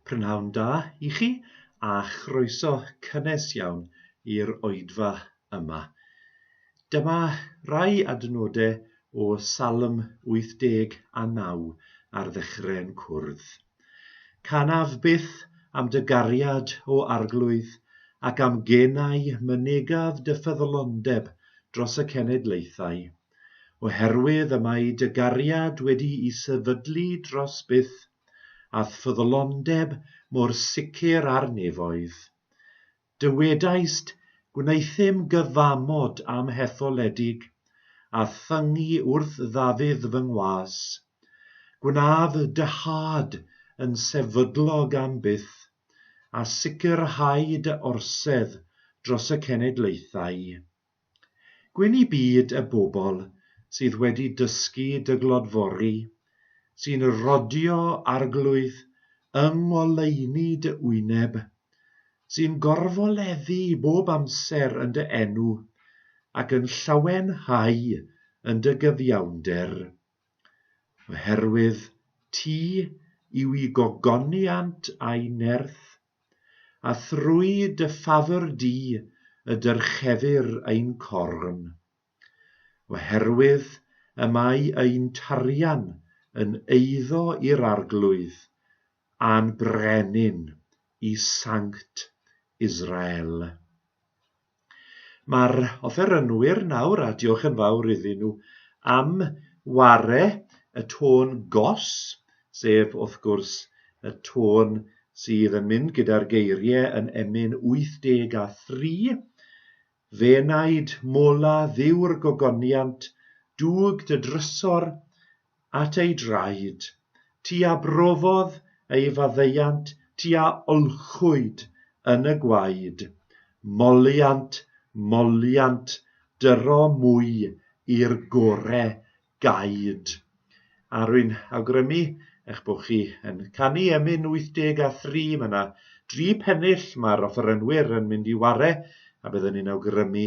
Prynhawn da i chi a chroeso cynnes iawn i'r oedfa yma. Dyma rai adnodau o Salm 89 ar ddechrau'n cwrdd. Canaf byth am dy gariad, O Arglwydd, ac am genau mynegaf dy ffyddlondeb dros y cenedlaethau. Oherwydd y mae dy gariad wedi'i sefydlu dros byth, a'th ffyddlondeb mor sicr ar nefoedd. Dywedaist, Gwneuthum gyfamod am hetholedig, a thyngu wrth ddafydd fy ngwas. Gwnaf dyhad yn sefydlog am byth, a sicrhau dy orsedd dros y cenedlaethau. Gwyn i byd y bobl sydd wedi dysgu dy glodfori, sy'n rodio arglwydd yng ngoleuni dy wyneb, sy'n gorfoleddu bob amser yn dy enw, ac yn llawenhau yn dy gyfiawnder. Oherwydd ti yw i gogoniant a'i nerth, A thrwy dy ffafr di y dyrchefir ein corn, oherwydd y mae ein tarian yn eiddo i'r Arglwydd a'n Brenin i Sanct Israel. Mae'r offerynwyr nawr, a diolch yn fawr iddyn nhw am ware y tôn gos, sef wrth gwrs y tôn sydd yn mynd gyda'r geiriau yn Emyn 83, Fe wnaed mola Dduw'r gogoniant, dug dy drysor, at ei draed, ti a brofodd ei faddeuant ti a olchwyd yn y gwaed, moliant, moliant, dyro mwy i'r gore gaed. A rwy'n awgrymu eich bod chi yn canu emyn 83, mae yna dri pennill mae'r offerynwyr yn mynd i ware, a byddwn i'n awgrymu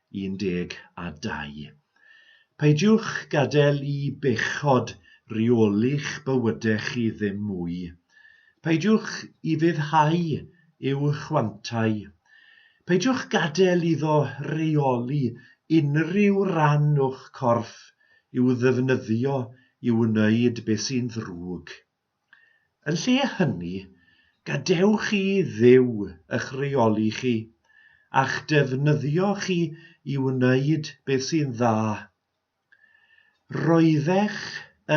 12. Peidiwch gadael i bechod reoli'ch bywydau chi ddim mwy. Peidiwch ufuddhau i'w chwantau. Peidiwch gadael iddo reoli unrhyw ran o'ch corff i'w ddefnyddio i wneud beth sy'n ddrwg. Yn lle hynny, gadewch i Dduw ych rheoli chi, a'ch defnyddio chi i wneud beth sy'n dda. Roeddech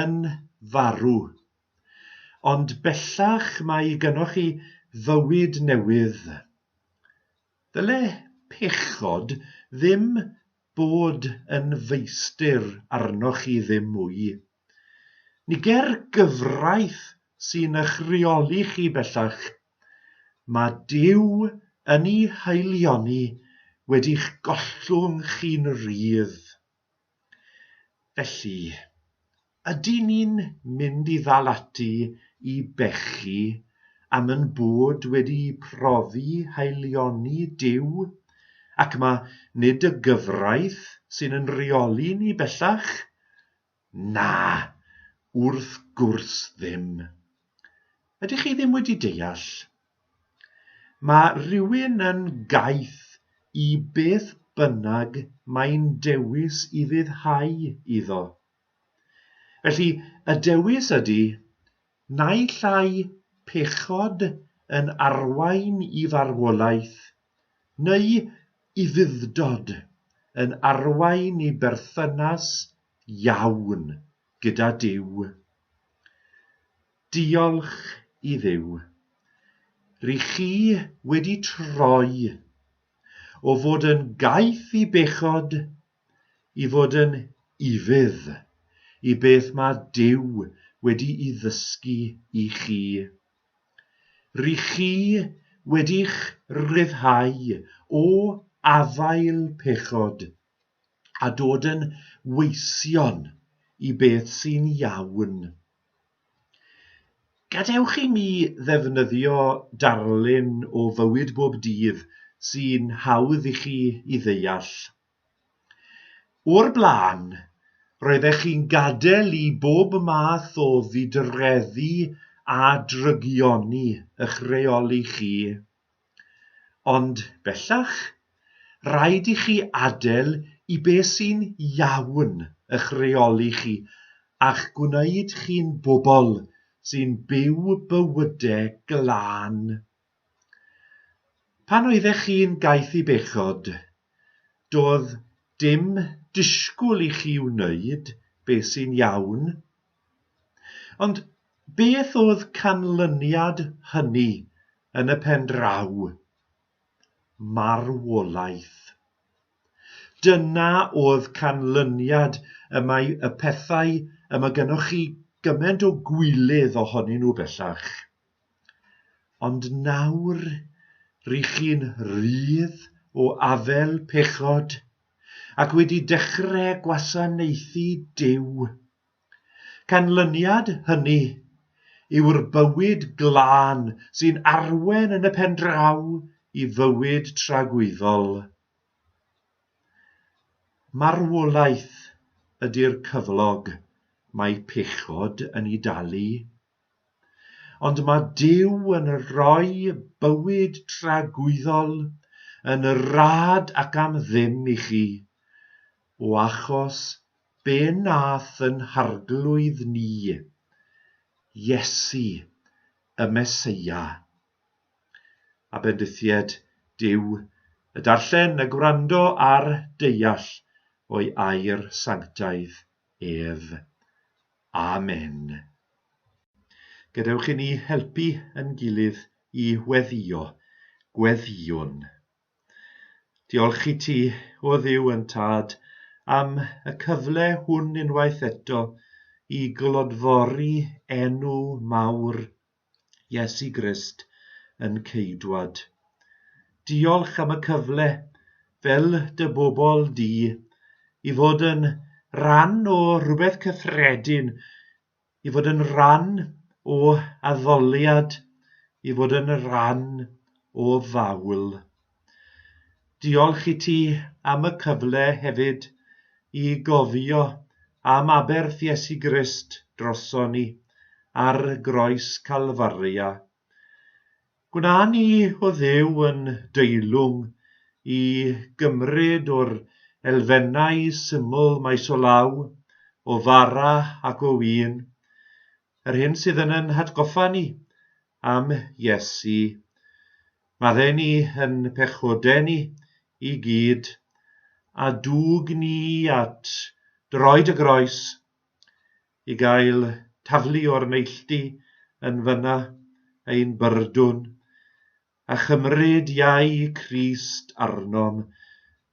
yn farw, ond bellach mae gynnoch chi fywyd newydd. Ddyle pechod ddim bod yn feistr arnoch chi ddim mwy. Ni ger gyfraith sy'n eich rheoli chi bellach. Mae Duw yn ei haelioni wedi'ch gollwng chi'n rhydd. Felly, ydyn ni'n mynd i ddal ati i bechu am ein bod wedi profi haelioni Duw, ac mae nid y gyfraith sy'n yn rheoli ni bellach? Na, wrth gwrs ddim. Ydych chi ddim wedi deall? Mae rhywun yn gaeth i beth bynnag mae'n dewis i fuddhau iddo. Felly, y dewis ydy Naill ai pechod yn arwain i farwolaeth, neu ufudd-dod yn arwain i berthynas iawn gyda Duw. Diolch i Dduw, ry' chi wedi troi o fod yn gaeth i bechod i fod yn ufudd i beth mae Duw wedi'i ddysgu i chi. Ry' chi wedi'ch ryddhau o afael pechod a dod yn weision i beth sy'n iawn. Gadewch i mi ddefnyddio darlun o fywyd bob dydd sy'n hawdd i chi i ddeall. O'r blaen, roeddech chi'n gadael i bob math o ddidreddu a drygioni eich rheoli chi. Ond bellach, rhaid i chi adael i be sy'n iawn eich rheoli chi a'ch gwneud chi'n bobl sy'n byw bywydau glân. Pan oeddech chi'n gaeth i bechod, doedd dim disgwyl i chi wneud be sy'n iawn. Ond beth oedd canlyniad hynny yn y pen draw? Marwolaeth. Dyna oedd canlyniad y mae y pethau y mae gennych chi gymaint o gwilydd ohonyn nhw bellach. Ond nawr ry' chi'n rhydd o afel pechod, ac wedi dechre gwasanaethu Duw. Canlyniad hynny yw'r bywyd glân sy'n arwain yn y pen draw i fywyd tragwyddol. Marwolaeth ydi'r cyflog mae pechod yn 'i dalu. Ond mae Duw yn rhoi bywyd tragwyddol yn rad ac am ddim i chi, o achos be nath yn harglwydd ni, Iesu, y Meseia. A bendithied Duw y darllen, y gwrando a'r deall o'i air sanctaidd ef. Amen. Gadewch i ni helpu yn gilydd i weddio, gweddïwn. Diolch i ti, o ddiw yn tad, am y cyfle hwn unwaith eto i glodfori enw mawr Iesu Grist yn Ceidwad. Diolch am y cyfle, fel dy bobl di, i fod yn rhan o rhywbeth cyffredin, i fod yn rhan o addoliad, i fod yn rhan o fawl. Diolch i ti am y cyfle hefyd i gofio am aberth Iesu Grist droson ni ar Groes Calfaria. Gwna ni o Dduw yn deilwng i gymryd o'r elfennau syml maes o law, o fara ac o win, yr hyn sydd yn yn hatgoffa ni am Iesu. Mae rheni yn pechodeni i gyd, a dwg ni at droed y groes i gael taflu o'r neilltu yn fyna ein byrdwn, a chymryd iau Crist arnom,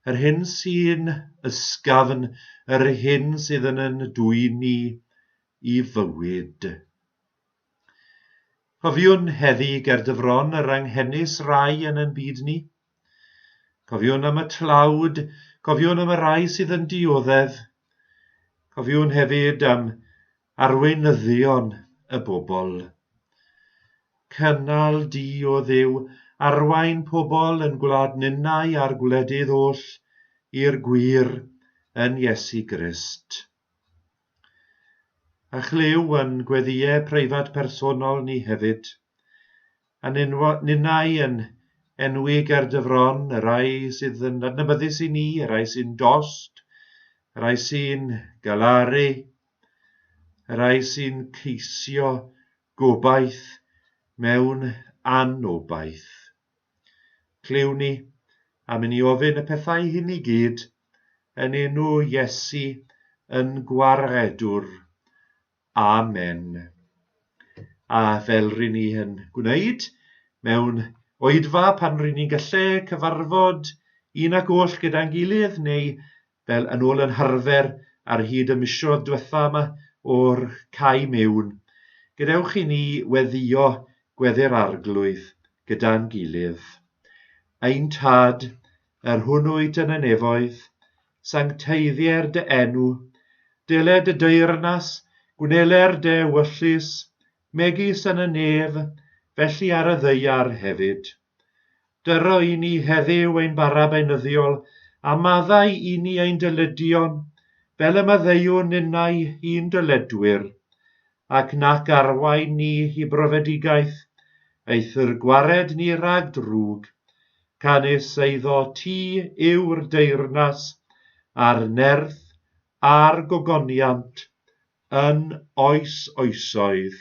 yr hyn sy'n ysgafn, yr hyn sydd yn yn dwyni i fywyd. Cofiwn heddi ger dy fron yr anghenus rai yn ein byd ni. Cofiwn am y tlawd, cofiwn am y rai sydd yn dioddef. Cofiwn hefyd am arweinyddion y bobl. Cynnal di o dduw, arwain pobl yn gwlad ninnau a'r gwledydd oll i'r gwir yn Iesu Grist. A chlyw yn gweddïau preifat personol ni hefyd, a ninnau yn enwi ger dy fron y rhai sydd yn adnabyddus i ni, y rhai sy'n dost, y rhai sy'n galaru, y rhai sy'n ceisio gobaith mewn anobaith. Cluni, a myn i ofyn y pethau hyn i gyd, yn enw Iesu yn Gwaredwr. Amen. A fel ryn ni yn gwneud mewn oedfa pan ryn ni'n gallu cyfarfod un ac oll gyda'n gilydd neu fel yn ôl yn harfer ar hyd y misoedd diwetha' yma o'r cae mewn, gadewch i ni weddïo gweddi'r Arglwydd gyda'n gilydd. Ein Tad, yr hwn wyt yn y nefoedd, sancteiddier dy enw, dele dy deyrnas, gwnele'r dy ewyllys, megis yn y nef, felly ar y ddaear hefyd. Dyro i ni heddiw ein bara beunyddiol, a maddau i ni ein dyleduon, fel y maddeuwn ninnau i'n dyledwyr, ac nac arwain ni i brofedigaeth, eithr gwared ni rhag drwg, canys eiddo ti yw'r deyrnas, a'r nerth, a'r gogoniant, yn oes oesoedd.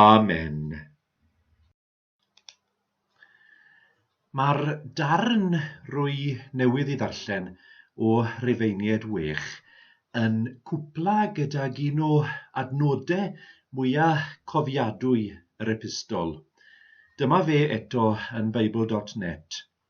Amen. Mae'r darn rwy newydd ei ddarllen o Rifeiniaid Wych yn cwpla gydag un o adnodau mwya cofiadwy yr epistol. Dyma fe eto yn Bible dot net.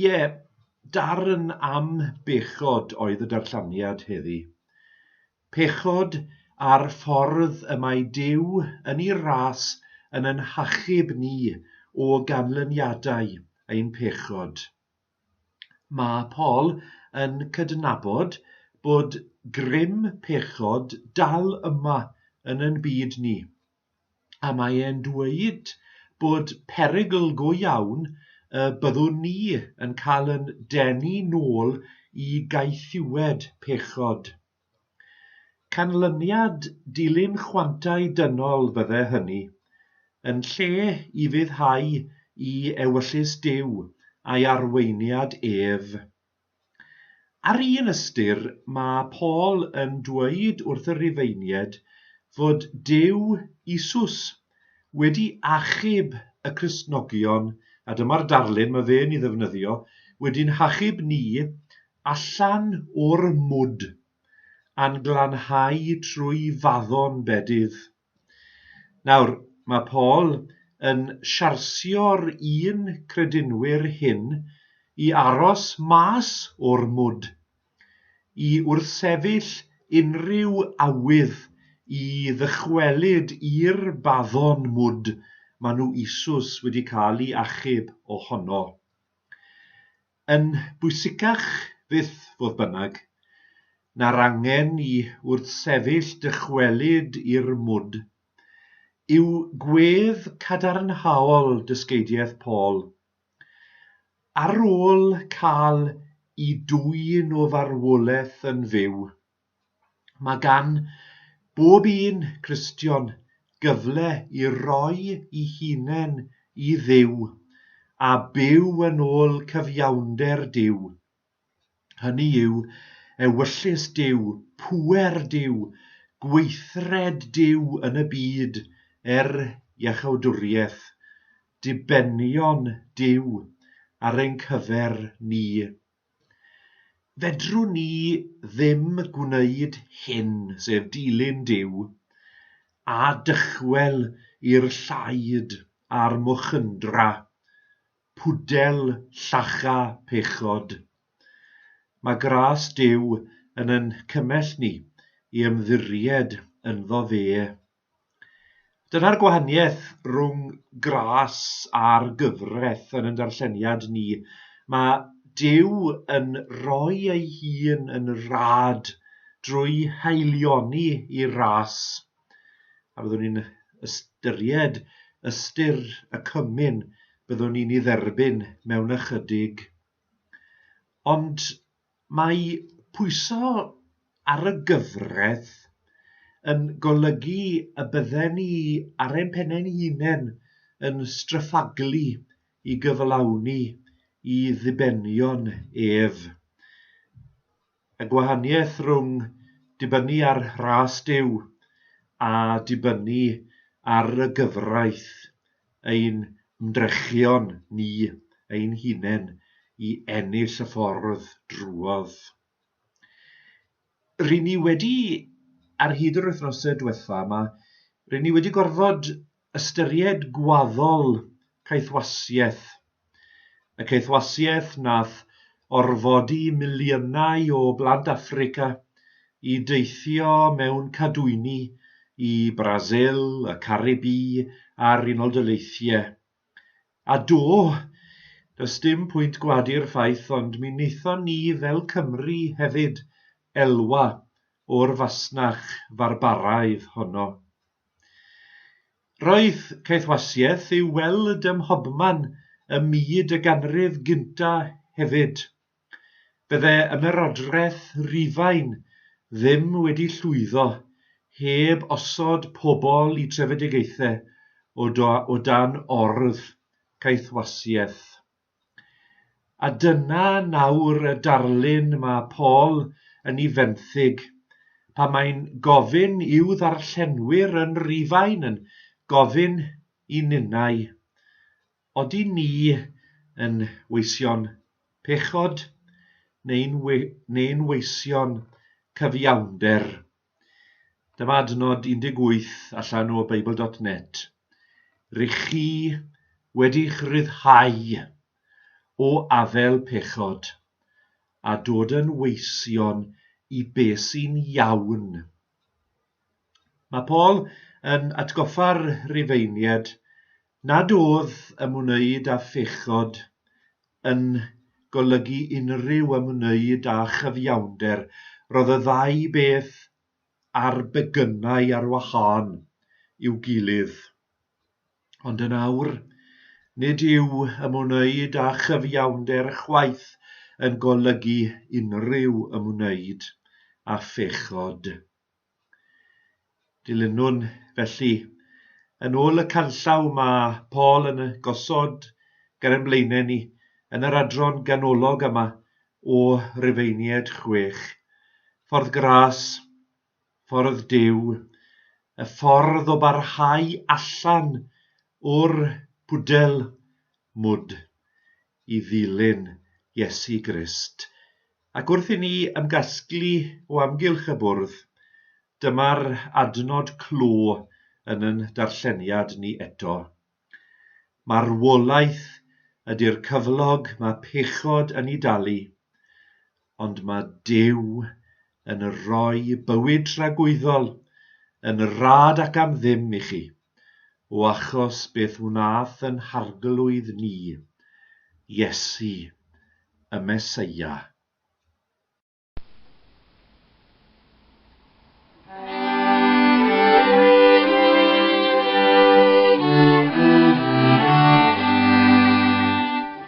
Ie, darn am bechod oedd y darllaniad heddi. Pechod a'r ffordd y mae Duw yn ei ras yn ein hachub ni o ganlyniadau ein pechod. Mae Paul yn cydnabod bod grym pechod dal yma yn ein byd ni, a mae e'n dweud bod perygl go iawn y byddwn ni yn cael yn denu nôl i gaethiwed pechod. Canlyniad dilyn chwantau dynol fydde hynny, yn lle i fuddhau i ewyllys Duw a'i arweiniad ef. Ar un ystyr, mae Paul yn dweud wrth y Rhufeiniaid fod Duw, Iesus, wedi achub y Cristnogion, a dyma'r darlun mae fe'n ei ddefnyddio, wedi'n hachub ni allan o'r mwd, a'n glanhau trwy faddon bedydd. Nawr, mae Paul yn siarsio'r un credinwyr hyn i aros mas o'r mwd, i wrthsefyll unrhyw awydd i ddychwelyd i'r baddon mwd maen nhw eisus wedi cael ei achub ohono. Yn bwysicach fyth, fodd bynnag, na'r angen i wrthsefyll dychwelyd i'r mwd, yw gwedd cadarnhaol dysgeidiaeth Paul. Ar ôl cael i dwyn o farwolaeth yn fyw, Mae gan bob un Cristion gyfle i roi i hunain i Dduw a byw yn ôl cyfiawnder Duw, hynny yw, ewyllys Duw, pŵer Duw, gweithred Duw yn y byd er iachawdwriaeth, dibenion Duw ar ein cyfer ni. Fedrwn ni ddim gwneud hyn, sef dilyn Duw, a dychwel i'r llaid a'r mwchyndra, pwdel llacha pechod. Mae gras Duw yn ein cymell ni i ymddiried ynddo fe. Dyna'r gwahaniaeth rhwng gras a'r gyfraith yn ein darlleniad ni. Mae Duw yn rhoi ei hun yn rad drwy haelioni i ras, a byddwn ni'n ystyried ystyr y cymun byddwn ni'n ei dderbyn mewn ychydig. Ond Mae pwyso ar y gyfraith yn golygu y bydden ni ar ein pennau'n hunain yn straffaglu i gyflawni i ddibenion ef. Y gwahaniaeth rhwng dibynnu ar râs Duw a dibynnu ar y gyfraith ein hymdrechion ni ein hunain i ennill y ffordd drwodd. Ry'n ni wedi, ar hyd yr wythnosau diwetha' yma, ry'n ni wedi gorfod ystyried gwaddol caethwasiaeth y caethwasiaeth nath orfodi miliynau o blant Affrica i deithio mewn cadwyni i Brasil, y Caribî a'r Unol Daleithiau. A do, does dim pwynt gwadu'r ffaith ond mi wnaethon ni fel Cymry hefyd elwa o'r fasnach farbaraidd honno. Roedd caethwasiaeth i'w weld ym mhobman ym myd y ganrif gyntaf hefyd. Bydde Ymerodraeth Rufain ddim wedi llwyddo heb osod pobl i trefedigaethau o dan orddu caethwasiaeth. A dyna nawr y darlun mae Paul yn ei fenthyg pan mae'n gofyn i'w ddarllenwyr yn Rhufain yn gofyn i ninnau, Odi ni yn weision pechod neu'n we- neu'n weision cyfiawnder? Dyma adnod 18 allan o Beibl dot net, Rych chi wedi'ch ryddhau o afael pechod, a dod yn weision i be sy'n iawn. Mae Paul yn atgoffa'r Rhufeiniaid Nad oedd ymwneud â phechod yn golygu unrhyw ymwneud â chyfiawnder, roedd y ddau beth ar begynnau ar wahân i'w gilydd. Ond yn awr, nid yw ymwneud â chyfiawnder chwaith yn golygu unrhyw ymwneud â phechod. Dilynwn, felly. Yn ôl y canllaw mae Paul yn gosod ger ein blaenau ni yn yr adran ganolog yma o Rufeiniaid 6. Ffordd Gras, Ffordd Duw, y ffordd o barhau allan o'r pwdel, mwd, i ddilyn Iesu Grist. Ac wrth i ni ymgasglu o amgylch y bwrdd, dyma'r adnod clo yn yn darlleniad ni eto. Marwolaeth ydy'r cyflog mae pechod yn ei dalu, ond mae Duw yn rhoi bywyd tragwyddol yn rad ac am ddim i chi. o achos beth wnaeth yn harglwydd ni, Iesu, y Meseia.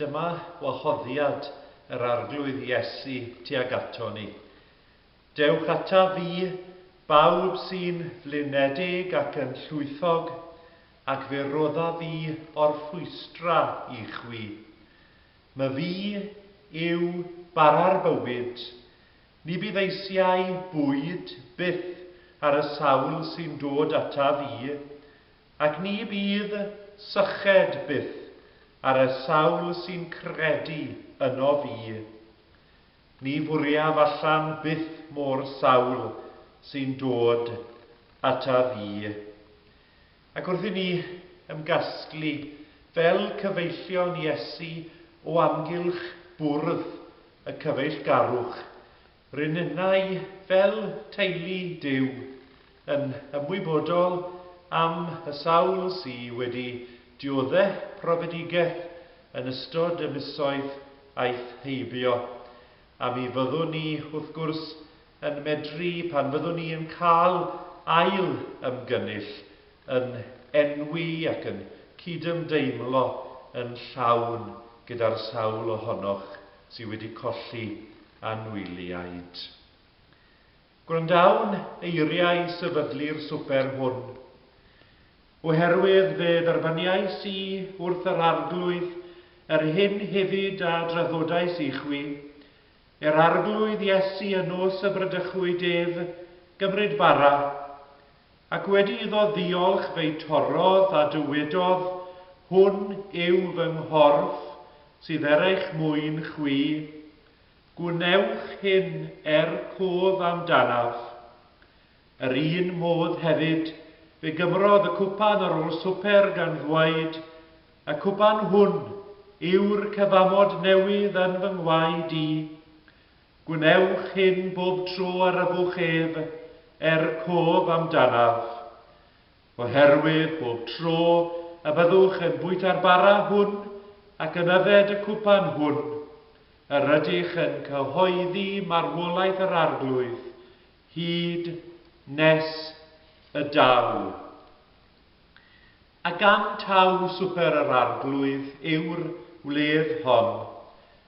Dyma wahoddiad yr Arglwydd Iesu tuag ato ni, Dewch ataf fi, bawb sy'n flinedig ac yn llwythog, ac fe rodda fi orffwystra i chwi. My fi yw bara'r bywyd, ni bydd eisiau bwyd byth ar y sawl sy'n dod ataf i, Ac ni bydd syched byth ar y sawl sy'n credu ynof fi. Ni fwriaf allan byth mo'r sawl sy'n dod ataf fi. Ac wrth i ni ymgasglu fel cyfeillion Iesu o amgylch bwrdd y cyfeillgarwch, Rynnai fel teulu Duw yn ymwybodol am y sawl sy wedi diodde' profedigaeth yn ystod y misoedd aeth heibio, a mi fyddwn ni wrth gwrs yn medru pan fyddwn ni yn cael ail ymgynnull yn enwi ac yn cydymdeimlo yn llawn gyda'r sawl ohonoch sydd wedi colli anwyliaid. Gwrandawn eiriau sefydlu'r swper hwn, oherwydd fe dderbyniais i wrth yr Arglwydd yr hyn hefyd a draddodais i chwi, er Arglwydd Iesu y nos y bradychwyd ef gymryd bara, Ac wedi iddo ddiolch fe'i torrodd a dywedodd, Hwn yw fy nghorff sydd er eich mwyn chwi, gwnewch hyn er cof amdanaf. Yr un modd hefyd fe gymrodd y cwpan ar ôl swper gan ddweud, Y cwpan hwn yw'r cyfamod newydd yn fy ngwaed i, Gwnewch hyn bob tro a ryfwch ef, er cof amdanaf. Oherwydd bob tro y byddwch yn bwyta'r bara hwn ac yn yfed y cwpan hwn, yr ydych yn cyhoeddi marwolaeth yr Arglwydd, hyd nes y daw. A gan taw swper yr Arglwydd yw'r wledd hon,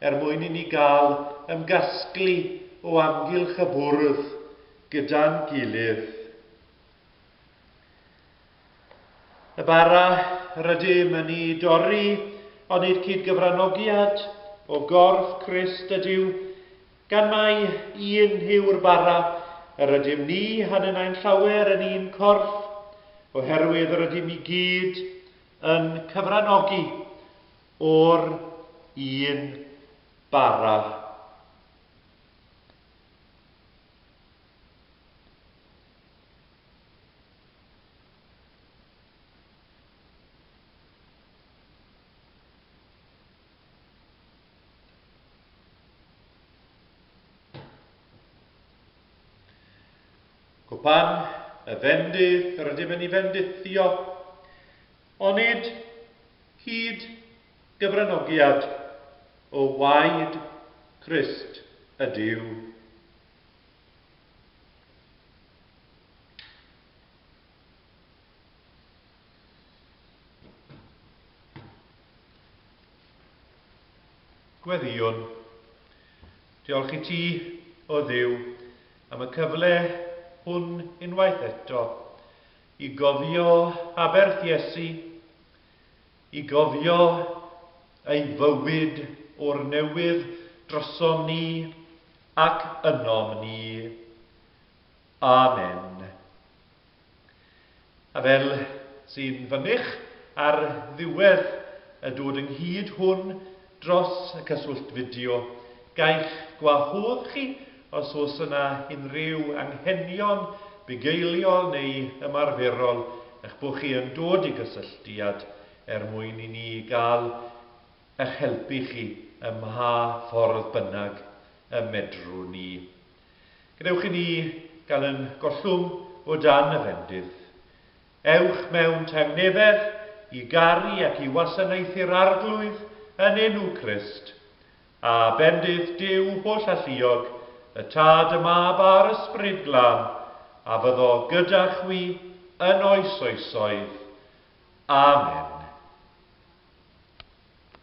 er mwyn i ni gael ymgasglu o amgylch y bwrdd gyda'n gilydd. Y bara rydym yn ei dorri, onid cyd-gyfranogiad o gorff Crist ydyw, gan mai un yw'r bara, yr ydym ni hanyn ai'n llawer yn un corff, oherwydd yr ydym i gyd yn cyfranogi O'r un bara, cwpan y fendith, rydym yn ei fendithio, Onid cyd gyfranogiad o waed Crist ydyw? Gweddïwn. Diolch i ti, O Dduw, am y cyfle hwn unwaith eto. I gofio aberth Iesu, i gofio ei fywyd o'r newydd drosom ni ac ynom ni. Amen. A fel sy'n fynych ar ddiwedd y dod ynghyd hwn, Dros y cyswllt fideo, gai'ch gwahodd chi os oes yna unrhyw anghenion bugeiliol neu ymarferol eich bod chi yn dod i gysylltiad er mwyn i ni gael eich helpu chi ym mha ffordd bynnag y medrwn ni. Gadewch i ni gael yn gollwng o dan y fendith. Ewch mewn tangnefedd i garu ac i wasanaethu'r Arglwydd yn enw Crist, a bendith Duw hollalluog, y Tad, y Mab, a'r Ysbryd Glân, a fyddo gyda chwi yn oes oesoedd. Amen.